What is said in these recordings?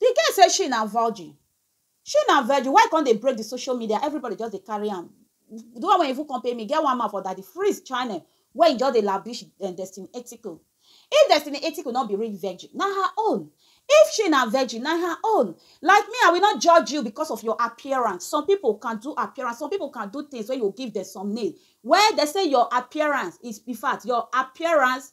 Di girl say she na virgin, she na virgin why e come dey break di social media everybody just dey carry am, di one wey even come pay me e get one man for Daddy Freeze channel wey e just dey labish Destiny Etiko, if Destiny Etiko no be real virgin na her own, if she na virgin na her own, like me I will not judge you because of your appearance, some people can do appearance, some people can do things wey you go give dem some name, well dem say your appearance is infact your appearance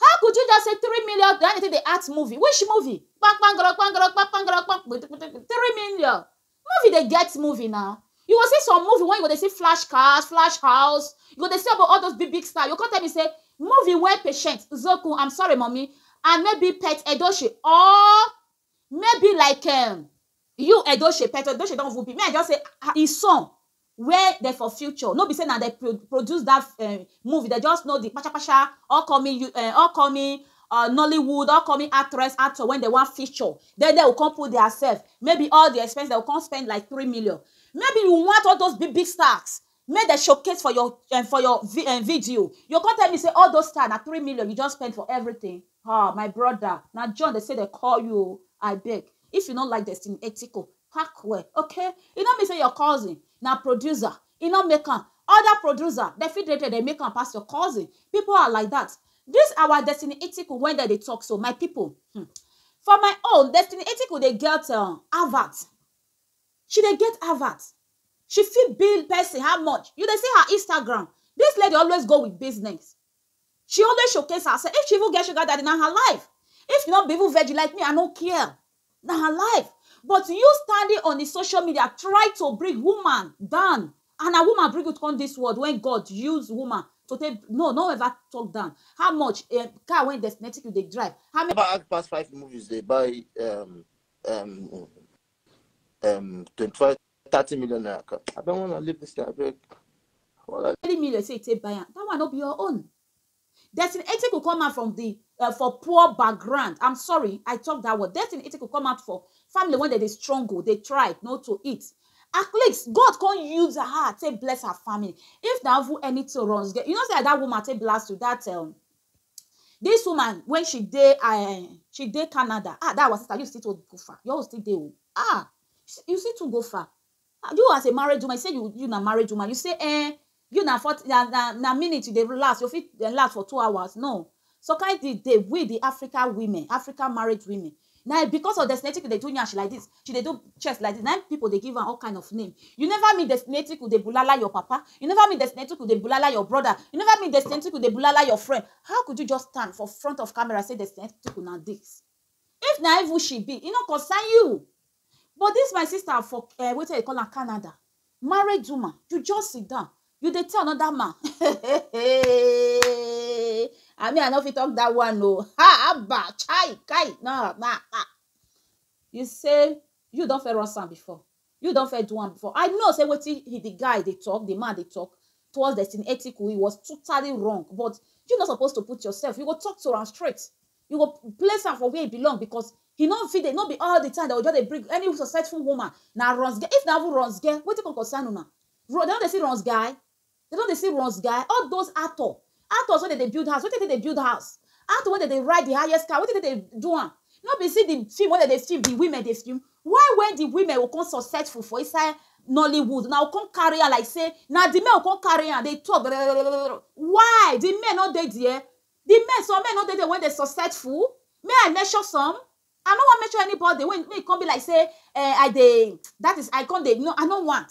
How could you just say three million na anything dey act movie? Which movie? Kpankpangoro kpangoro kpankpangoro kpank three million. Movie dey get movie now. You go see some movie wey you go dey see flash cars, flash house, you go dey see all those big big stars, you go come tell me say movie wey patient, Zokun, I'm sorry mummy and maybe Pet Edochie or Maybe like um you Edoshepet, Edoshepet don even big, me I just say ah ah, im son where dem for future, no be sey na dem pro produce dat um movie, dem just know di kpasha kpasha upcoming you um upcoming um Nollywood, upcoming actress, actor wey dem wan feature, den dem go kon put dia sef, maybe all di expenses, dem go kon spend like three million, maybe you want all dose big big stars make dem showcase for your um for your vi um video you go come tell me say all those time na three million you just spend for everything ah my brother na John dey say dey call you o abeg if you no like Destiny Etiko pack well okay e no mean say your cousin na producer e no make am other producer dem fit dey there dey make am pass your cousin people are like that this our Destiny Etiko wey dem dey talk so my people hmm for my own Destiny Etiko dey get um advert She dey get Harvard, she fit bill person how much, you dey see her Instagram, this lady always go with business, she always showcase herself, if she even get sugar daddy na her life, if she no be even virgin like me I no care, na her life, but you standing on the social media try to bring woman down and na woman bring you come this world when God use woman to take, no no ever talk down, how much um car wey destinatic you dey drive, how many. Never act pass five movies dey buy um um. um 25, 30 million naira. car. I don't want to leave this thing. I beg. Well, I- Three million say you take buy am. That one no be your own. Destin Etiku come out from the uh, for poor background. I'm sorry, I talk that word. Destin Etiku come out for family when they dey struggle, they tried not to eat. At least God can't use her, take bless her family. If that who anything runs, you know say that woman take blast to that um, Dis woman wen she dey um she dey Canada um dat our sister you still too go far your own still dey oo um you still too go far you as a married woman you say you na married woman you say um you na fourty na na minute you dey last you fit last for two hours no some kind thing dey we the African women African married women Na because of Desnetikwu dey do nyash like dis, she dey do chest like dis na im pipu dey give am all kind of name. You never meet Desnetikwu dey bulala your papa, you never meet Desnetikwu dey bulala your brother, you never meet Desnetikwu dey bulala your friend, how could you just stand for front of camera say Desnetikwu na dis? If na evil she be, e no concern you. But dis my sister for um wetin dem dey call am Canada, married woman, you just sit down, you dey tell another man um and me I no fit talk dat one oo, haba chai kai na na na. You say you don first run am before, you don first do am before, I know sey wetin he de guy dey talk, de man dey talk towards destiny ethical, he was totally wrong but you no suppose to put yourself, you go talk to am straight, you go place am for where e belong because he no fit dey no be all the time that we just dey bring any successful woman na runs girl if na even runs girl wetin come concern una they don dey see runs guy they don dey see runs guy all those actor actors wey dey dey build house wetin dey dey build house actor wey dey dey ride the highest car wetin dey dey do am no be see the film wey dey dey film the women dey film why when the women go come successful for inside Nollywood una go come carry am like say na the men go come carry am dey talk why the men no dey there Di men some men no dey there wey dey successful make I mention some I no wan mention anybody wey make e come be like say um I dey dat is I come dey no I no want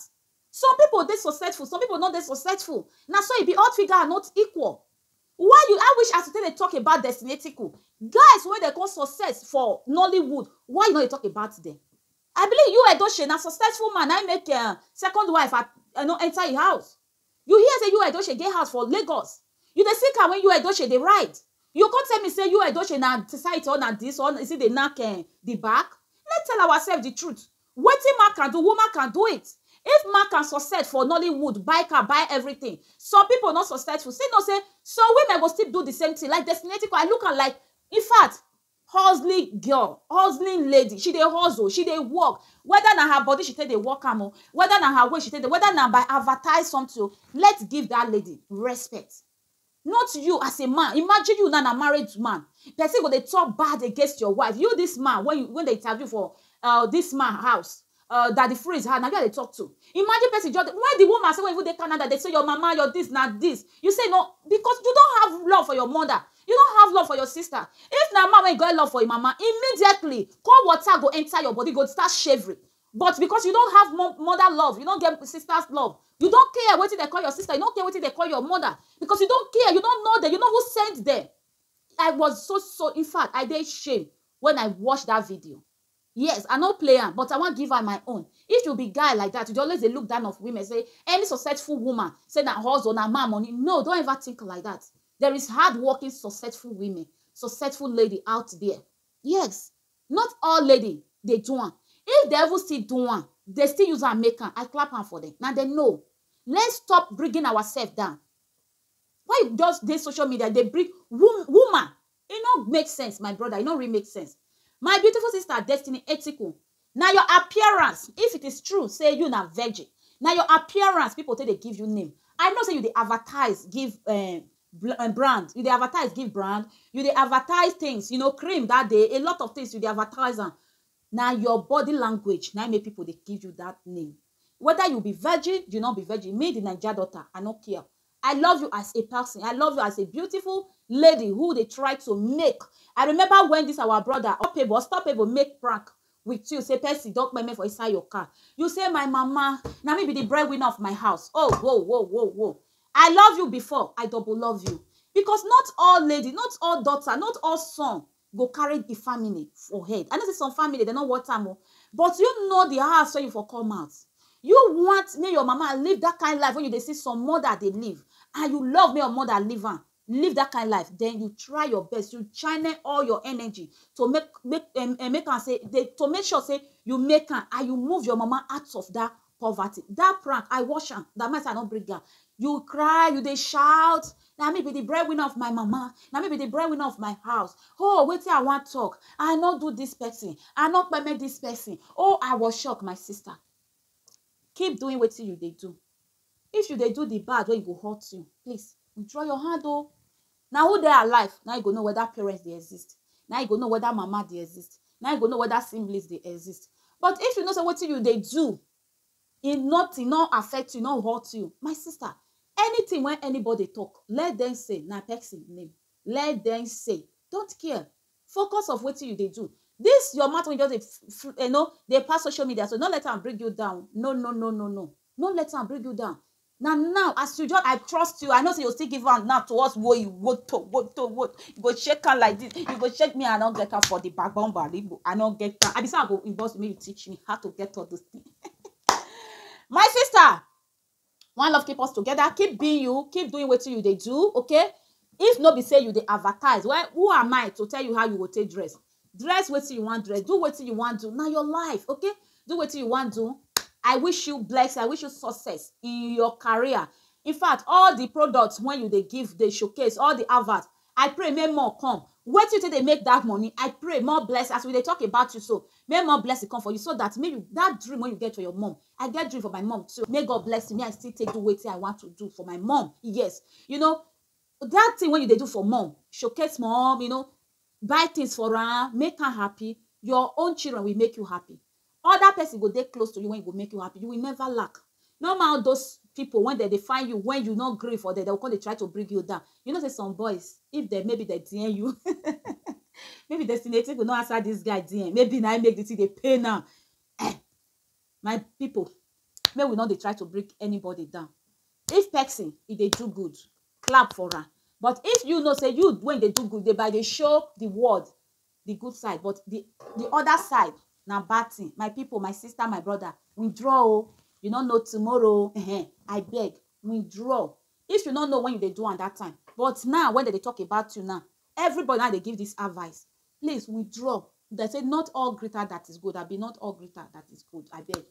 some people dey successful some people no dey successful na so e be all figure are not equal why you I wish as you take dey talk about Destiny Etiko guys wey dey come success for Nollywood why you no dey talk about dem I believe you Edochie na successful man na im make um second wife um no enter im house. You hear say Yul Edochie get house for Lagos, you dey see car wey Yul Edochie dey ride, you go come tell me say Yul Edochie na site or na this or e still dey knack eh the back? Let's tell ourselves the truth, wetin man can do, woman can do it. If man can success for Nollywood, buy car, buy everything, some people no successful, still know say some women go still do the same thing like Destinatic, I look am like, infact, hustling girl, hustling lady, she dey hustle, she dey work, weda na her body she take dey work am o, weda na her way she take dey, weda na by advertise sometin o, let's give dat lady respect, not you as a man, imagine you now na married man, pesin go dey talk bad against your wife, you dis man wey you, wey dem interview for um dis man house, Uh, daddy freeze her, now you they talk to. Imagine person just, why the woman say when you dey Canada, they say your mama, your this, na this. You say no, because you don't have love for your mother. You don't have love for your sister. If na man when you got love for your mama, immediately cold water go enter your body, go start shivering. But because you don't have mo- mother love, you don't get sister's love, you don't care what they call your sister, you don't care what they call your mother, because you don't care, you don't know them, you know who sent them. I was so so in fact, I dey shame when I watched that video. Yes I no play am but I wan give am my own if you be guy like that you dey always dey look down of women say any successful woman say na hustle na man money no don't ever think like that there is hard working successful women successful lady out there yes not all lady dey do am if dem even still do am dey still use am make am I clap am for dem na dem know let's stop bringing ourself down why you just dey social media dey bring woman E no make sense my brother e no really make sense my beautiful sister Destiny Etiku na your appearance if it is true say you na virgin na your appearance people take dey give you name I know say you dey advertise give um um brand you dey advertise give brand you dey advertise things you know cream that day a lot of things you dey advertise am na your body language na im make people dey give you that name whether you be virgin you no be virgin me the Naija daughter I no care I love you as a person, I love you as a beautiful lady who dey try to make, I remember when this our brother Opable, Unstoppable make prank with you say person don kpeme for inside your car, you say my mama, na me be the bread winner of my house, oh wo wo wo wo, I love you before, I double love you because not all lady, not all daughter, not all son go carry the family for head i know say some family dem no want am o but you know the house wey you for come out you want make your mama live that kind life wey you dey see some mother dey live and you love make your mother live am live that kind life then you try your best you channel all your energy to make make um, um, make am say dey to make sure say you make am and you move your mama out of that poverty that prank i wash am that man say i no bring am you cry you dey shout na me be the breadwinner of my mama na me be the breadwinner of my house oh wetin i wan talk i no do this person i no permit this person oh i was shocked my sister keep doing wetin you dey do if you dey do the bad wey go hurt you please withdraw your hand oh Na who dey alive na im go know weda parents dey exist, na im go know weda mama dey exist, na im go know weda siblings dey exist. But if you know sey wetin you dey do e nothing, e no affect you, e no hurt you, my sister, anything wey anybody dey talk, let dem say na person name, let dem say, don't care, focus of wetin you dey do. Dis your mouth wey you just dey you know dey pass social media so, no let am bring you down, no no no no no, no let am bring you down. Na now as you just I trust you I know say you still give am now to us woyi woto woto woto you go shake am like this you go shake me I no get am for the backbone baligbo I no get am I be say I go inbox you make you teach me how to get all those things my sister one love keep us together keep being you keep doing wetin you dey do okay if no be say you dey advertise well who am I to tell you how you go take dress dress wetin you wan dress do wetin you wan do na your life okay do wetin you wan do i wish you blessing i wish you success in your career in fact all the products when you dey give dey showcase all the advert i pray make more come wetin you take dey make that money i pray more blessing as we dey talk about you so make more blessing come for you so that make you that dream wey you get for your mom i get dream for my mom too make god bless me i still take do wetin i want to do for my mom yes you know that thing wey you dey do for mom showcase mom you know buy things for am, make am happy, your own children will make you happy. Other person go dey close to you wey go make you happy, you will never lack. No mind all those people when dem dey find you when you no gree for dem, dem go come dey try to bring you down. You know sey some boys, if dem maybe dem DM you maybe Destiny Etiko no answer this guy DM, maybe na im make the thing dey pain am um My pipu make we no dey try to bring anybody down, if person e dey do good clap for am but if you know sey you wey you dey do good dey by dey show de world de good side but de other side na bad thing my pipu, my sister, my brother withdraw oo you no know tomorrow um abeg withdraw if you no know when you dey do am dat time but now wey dem dey talk about you now Everybody now dey give this advice, please withdraw dem say not all greater that is good abi not all greater that is good abeg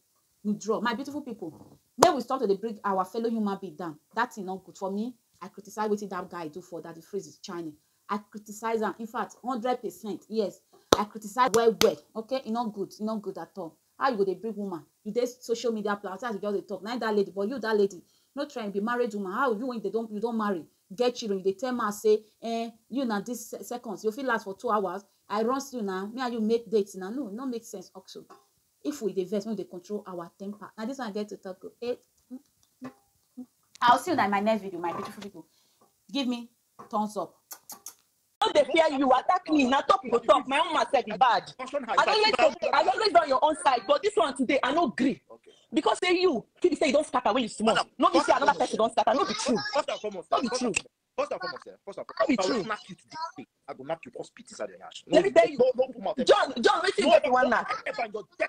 withdraw my beautiful people make we stop to dey bring our fellow human being down that thing no good for me I criticize wetin that guy do for Daddy Freeze is China I criticize am in fact hundred percent yes I criticize well well okay e no good e no good at all How you go dey bring woman you dey social media pla as you just dey talk na im that lady but you that lady no try you be married woman how you when you don you don marry get children you dey tell man say eh you na this seconds you fit last for two hours I runs you na me and you make dates na no no make sense also if we dey vex make we dey control our temper na this one I get to talk o eh I'll see you na in my next video my beautiful people give me thumbs up no dey fear you attack me na talk go talk my own man sef be bad i always dey i always dey on your own side but this one today i no gree because say you fit be say you don scatter when you small no be say another person don scatter no be true no be true. First and foremost, eh, first and foremost, if I will knock you today, I will knock you all spit inside your ass. No, Let me tell you, no, no, no, John, John, wait till you get one knock. If I got death